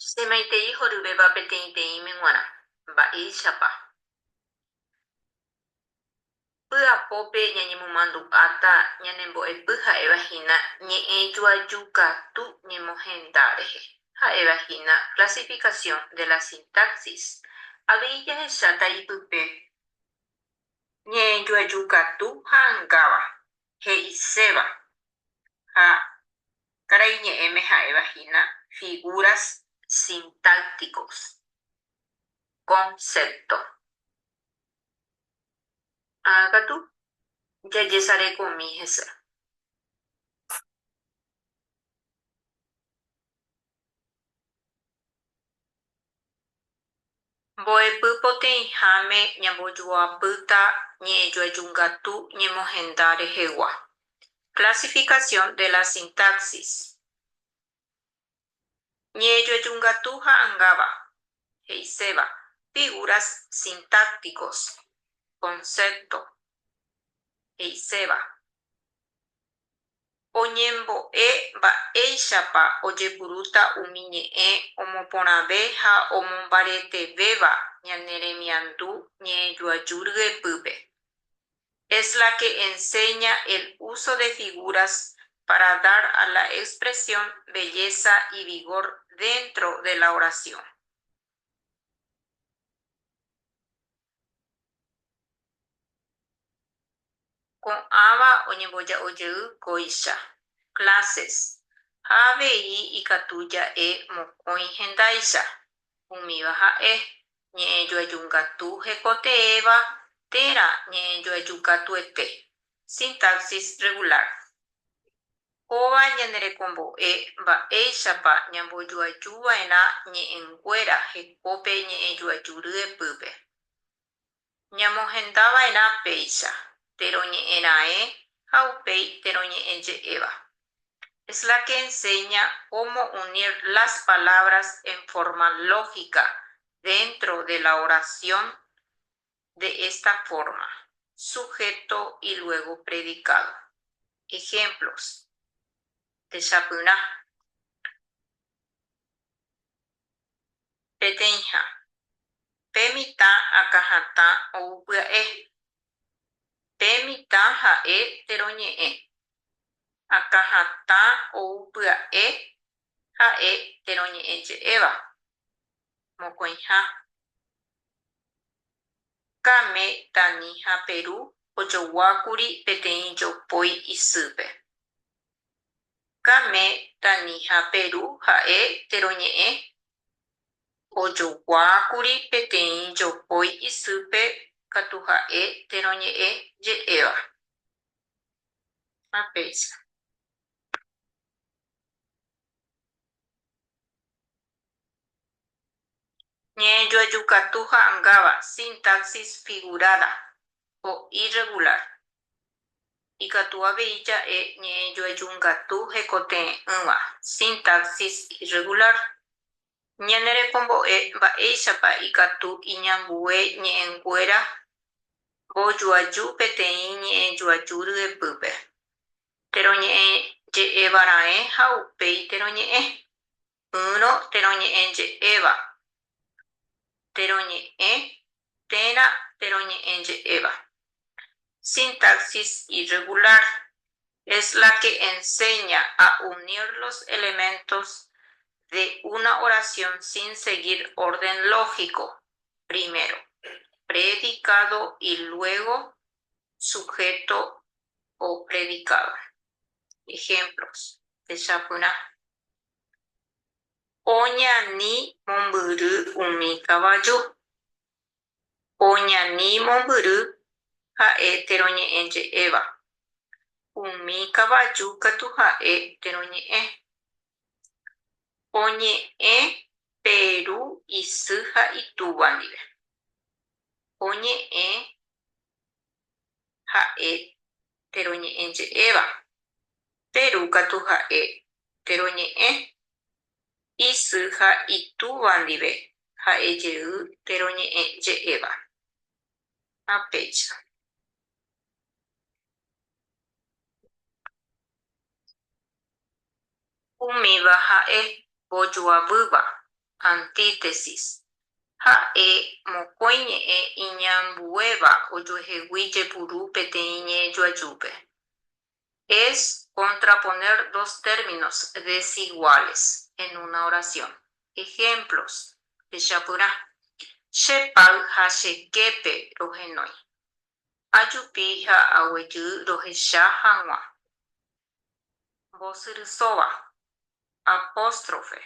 Isémaitei horyvéva peteĩteĩme g̃uarã. Mba'éichapa? Py'apópe ñañemomandu'áta ñanembo'epy ha'éva hína ñe'ẽjoaju katu ñemohenda rehe, ha'éva hína clasificación de la sintaxis. Avei jahecháta ipype Ñe'ẽjoajukatu ha'angáva, he'iséva ha karaiñe'ẽme ha'éva hína figuras sintácticos, concepto. Ág̃akatu jajesarekomi hese. Mbo'epy poteiháme ñambojuapýta ñe'ẽjoajungatu ñemohenda rehegua. Clasificación de la sintaxis. Ñe'ẽjoajungatu ha'angáva, he'iséva, figuras sintácticos, concepto, he'iséva. oñembo'e mba'éichapa ojepurúta umi ñe'ẽ omoporãve ha omombaretevéva ñane remiandu ñe'ẽjoaju ryepýpe. Es la que enseña el uso de figuras para dar a la expresión belleza y vigor dentro de la oración. Ko'ãva oñemboja'o jey kóicha, clases, ha avei ikatu ja'e mokõi hendáicha. Umíva ha'e, ñe'ẽjoajungatu hekoteéva térã ñe'ẽjoajukatuete, sintaxis regular. Kóva ñanerekombo'e mba'éichapa ñambojoaju va'erã ñe'ẽnguéra hekópe ñe'ẽjoajurýepýpe. Ñamohenda va'erã péicha, térõ ñe'ẽ raẽ ha upéi térõ ñe'ẽ je'éva. Es la que enseña cómo unir las palabras en forma lógica dentro de la oración de esta forma, sujeto y luego predicado. Ejemplos, Techapyrã. Peteĩha. Pe mitã akã hatã ou pya'e. Pe mitã ha'e tero ñe'ẽ. Akã hatã ou pya'e ha'e tero ñe'ẽ je'éva. Mokõiha. Kame, Tani ha Peru ojoguákuri peteĩ jopói isýpe. Kame, Tani ha Peru ha'e teroñe'ẽ. Ojoguákuri peteĩ jopói isýpe katu ha'e teroñe'ẽ je'éva. Ha péicha. Ñe'ẽjoajukatu ha'angáva sintaxis figurada ko irregular. Ikatu avei ja'e ñe'ẽjoajungatu hekote'ỹva sintaxis irregular. Ñanerekombo'e mba'éichapa ikatu iñambue ñe'ẽnguéra mbojoaju peteĩ ñe'ẽjoaju ryepýpe, teroñe'ẽje'éva raẽ ha upéi teroñe'ẽ. Ỹrõ térõ ñe'ẽ je'éva. Térõ ñe'ẽ, térã térõ ñe'ẽ je'éva. Sintaxis irregular, es la que enseña a unir los elementos de una oración sin seguir orden lógico, primero predicado y luego sujeto o predicado. Ejemplos, techapyrã, Oñani mombyry umi kavaju. Oñani mombyry ha'e teroñe'ẽ je'éva. Umi kavaju katu ha'e teroñe'ẽ. Oñe'ẽ pe ru isy ha itúva ndive. Oñe'ẽ ha'e pe roñe'ẽ je'éva, pe ru katu ha'e pe roñe'ẽ isy ha itúva ndive ha'e jey pe roñe'ẽ je'éva. Ha péicha. Umíva ha'e mbojoavýva Antítesis, ha'e mokõi ñe'ẽ iñambuéva ojuehegui jepuru peteĩ ñe'ẽjoajúpe. Es contraponer dos términos desiguales en una oración. Ejemplos, Rechapyrã, Che pay ha che képe rohenói. Ajupi ha aguejy rohecha hag̃ua. mbosyrysóva, apóstrofe,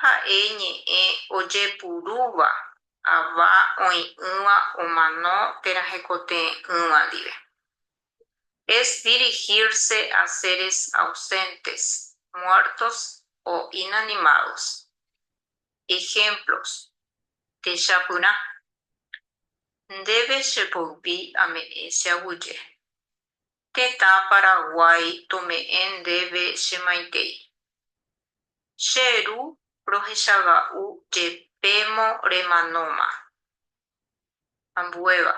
ha'e ñe'ẽ ojepurúva ava oĩ'ỹva omano térã hekote'ỹva ndive. Es dirigirse a seres ausentes, muertos o inanimados. Ejemplos, Techapyrã, Ndéve che poyvi ame'ẽ che aguyje. Tetã Paraguái tome'ẽ ndéve che maitei. Che ru rohechaga'u jepémo remanóma. Ambuéva,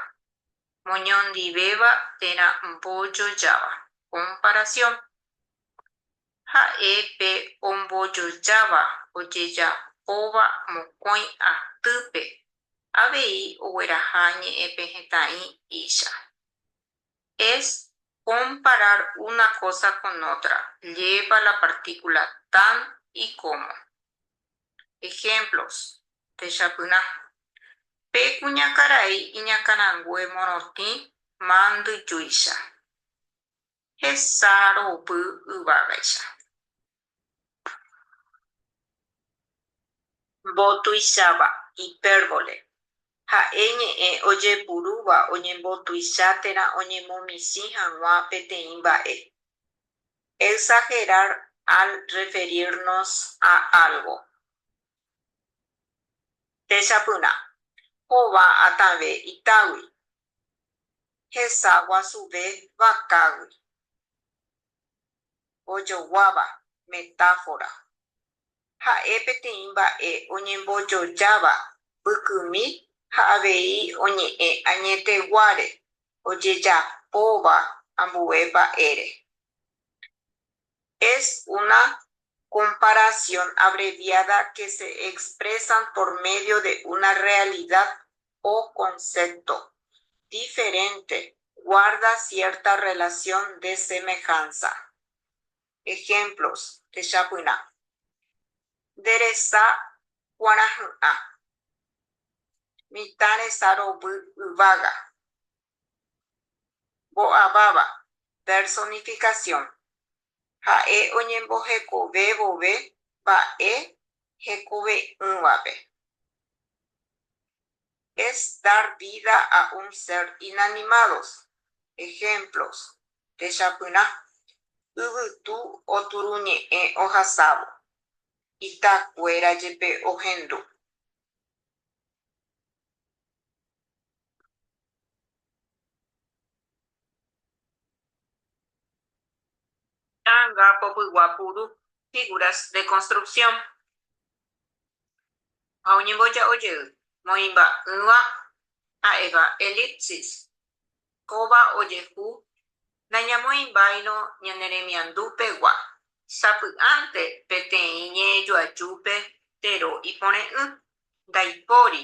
moñondivéva térã mbojojáva, comparación. Ha'e pe ombojojáva ojejapóva mokõi atýpe avei ogueraha ñe'ẽpehẽtaĩ icha. es comparar una cosa con otra, lleva la partícula tan y como. Ejemplos, Techapyrã. Pe kuñakarai iñakãrangue morotĩ mandyjúicha. Hesa ro'py yvágaicha. Mbotuicháva, hipérbole, ha'e ñe'ẽ ojepurúva oñembotuicha térã oñemomisĩ hag̃ua peteĩ mba'e. Exagerar al referirnos a algo. Techapyrã, Hova atãve itágui. Hesa guasuve vakágui. ojoguáva, metáfora, ha'e peteĩ mba'e oñembojojáva ykymi ha avei oñe'ẽ añeteguáre ojejapóva ambue mba'ére. Es una comparación abreviada que se expresan por medio de una realidad o concepto, diferente, guarda cierta relación de semejanza. Ejemplos, techapyrã, Nde resa kuarahy'ã. Mitã resa rovy yvága. Mbo'aváva, personificación, ha'e oñembohekove vove mba'e hekove'ỹvape. Es dar vida a un ser inanimados, ejemplos, techapyrã, yvytu oturuñe'ẽ ohasávo, itakuéra jepe ohendu. Ág̃a popygua puru figuras de construcción ha oñemboja'o jey moĩmba'ỹva ha'éva elipsis. Kóva ojehu nañamoĩmbáirõ ñane remiandu pegua, sapy'ánte peteĩ ñe'ẽjoajúpe tero iporẽ'ỹ, ndaipóri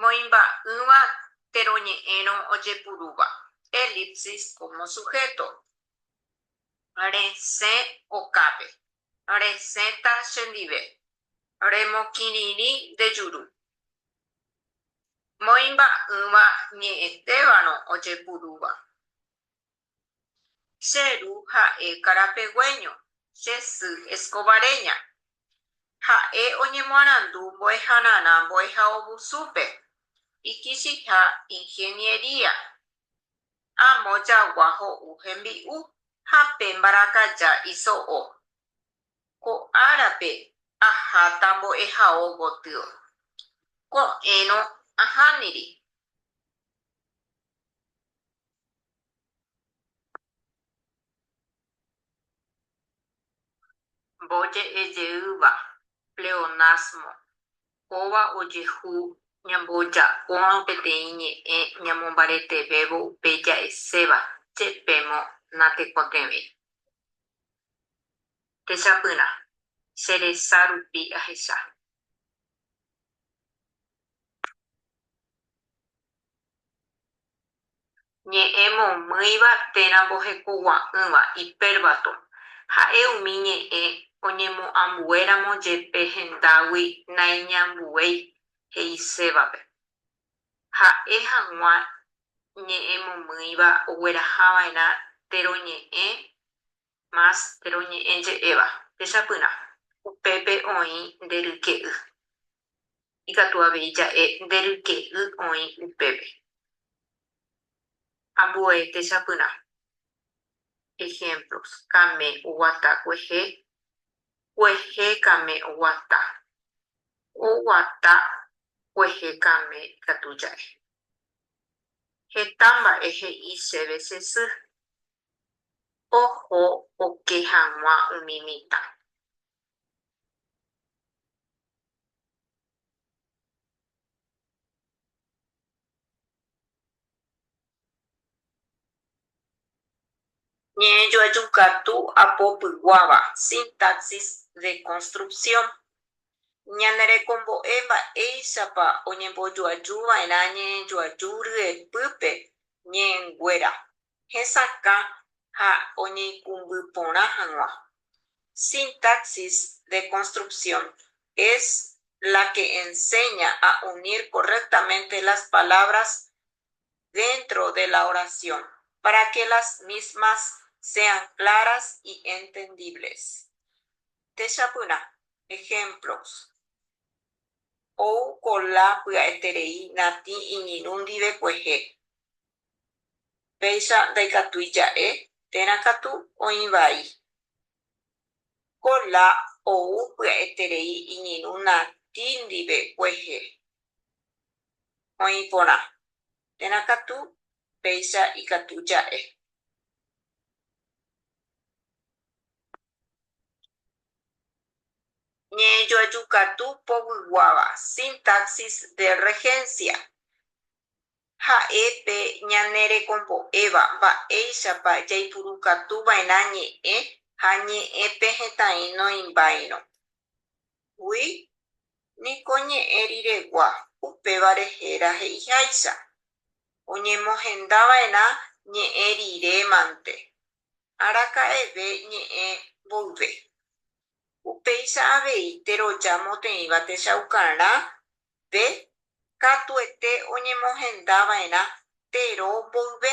moĩmba'ỹva térõ ñe'ẽrõ ojepurúva, elipsis como sujeto, Resẽ okápe, Resẽta chendive, Remokirirĩ nde juru. Moĩmba'ỹva ñe'ẽtévarõ ojepurúva. Che ru ha'e karapegueño, che sy eskovareña. Ha'e oñemoarandu mbo'ehararã mbo'ehaovusúpe, ikichiha ingeniería, amo jagua ho'u hembi'u ha pe mbarakaja iso'o. Ko árape aháta mbo'ehao gotyo. Ko'ẽrõ ahániri. Mboje'ejeýva, pleonasmo, kóva ojehu ñamboja'órõ peteĩ ñe'ẽ ñamombaretevévo upe ja'eséva jepémo natekotevẽ. Techapyrã, che resa rupi ahecha. Ñe'ẽ momýiva térã mbohekugua'ỹva, ipérbato, ha'e umi ñe'ẽ oñemo'ambuéramo jepe hendágui naiñambuéi he'isévape. Ha'e hag̃ua ñe'ẽ momýiva oguerahava'erã teroñe'ẽ Más roñe'ẽ je'éva, Techapyrã, upépe oĩ nde ryke'y. Ikatu avei ja'e nde ryke'y oĩ upépe. Ambue techapyrã. Ejemplos, Kame oguata kuehe. Kuehe kame oguata. Oguata kuehe kame ikatu ja'e. Heta mba'e he'i chéve che sy. oho oke hag̃ua umi mitã. Ñe'ẽjoaju katu apopyguáva, sintaxis de construcción. Ñane rekombo'e mba'éichapa oñembojoajuva'erã ñe'ẽjoaju ryepýpe ñe'ẽnguéra. hesakã ha oñeikũmby porã hag̃ua. Sintaxis de construcción es la que enseña a unir correctamente las palabras dentro de la oración para que las mismas sean claras y entendibles. Techapyrã ejemplos, Ou kola pya'eterei natĩ iñirũ ndive kuehe. Péicha ndaikatúi ja'e térã katu oĩ vai. Ko la ou pya'eterei iñirũ natĩ ndive kuehe. Oĩ porã. Térã katu péicha ikatu ja'e. Ñe'ẽjoajukatu povyguáva, sintaxis de regencia. Ha'e pe ñanerekombo'éva mba'éichapa jaipurukatu va'erã ñe'ẽ ha ñe'ẽpe hetãi noĩmbáirõ. Gui niko ñe'ẽ riregua upévare héra he'iháicha, oñemohenda va'erã ñe'ẽ rire mante, araka'eve ñe'ẽ mboyve. Upéicha avei teroja moteĩva techaukarã pe katuete oñemohenda va'erã tero mboyve,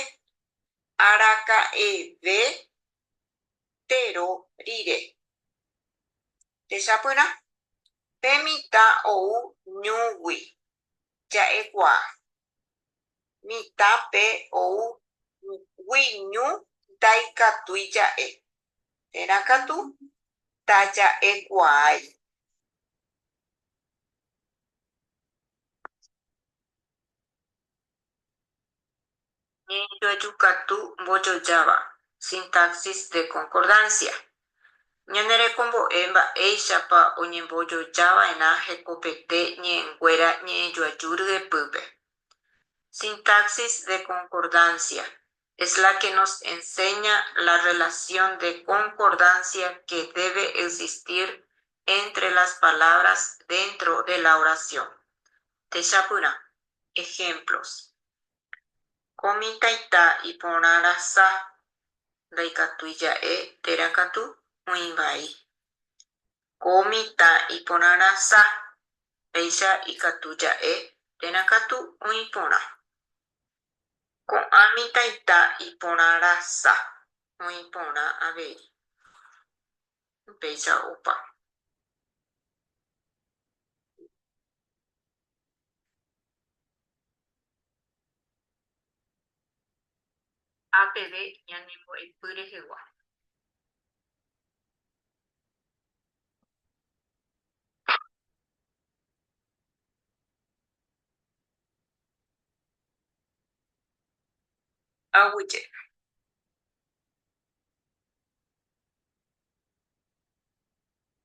araka'eve tero rire. Techapyrã, pe mitã ou ñúgui, ja'ekuaa. Mitã pe ou gui ñu ndaikatúi ja'e, térã katu ndaja'ekuaái. Ñeñejoaju katu mbojojáva, sintaxis de concordancia. Ñane rekombo'e mba'éichapa oñembojojava'erã hekopete ñe'ẽnguéra ñe'ẽjoaju ryepýpe. Sintaxis de concordancia, es la que nos enseña la relación de concordancia que debe existir entre las palabras dentro de la oración. Techapyrã ejemplos. Ko mitãita iporã rasa, ndaikatúi ja'e térã katu oĩ vai. Ko mitã iporã rasa, péicha ikatu ja'e térã katu oĩ porã. Ko'ã mitãita iporãrasa oĩ porã avei. Upéicha opa. Ha peve ñanembo'epy rehegua. Aguyje.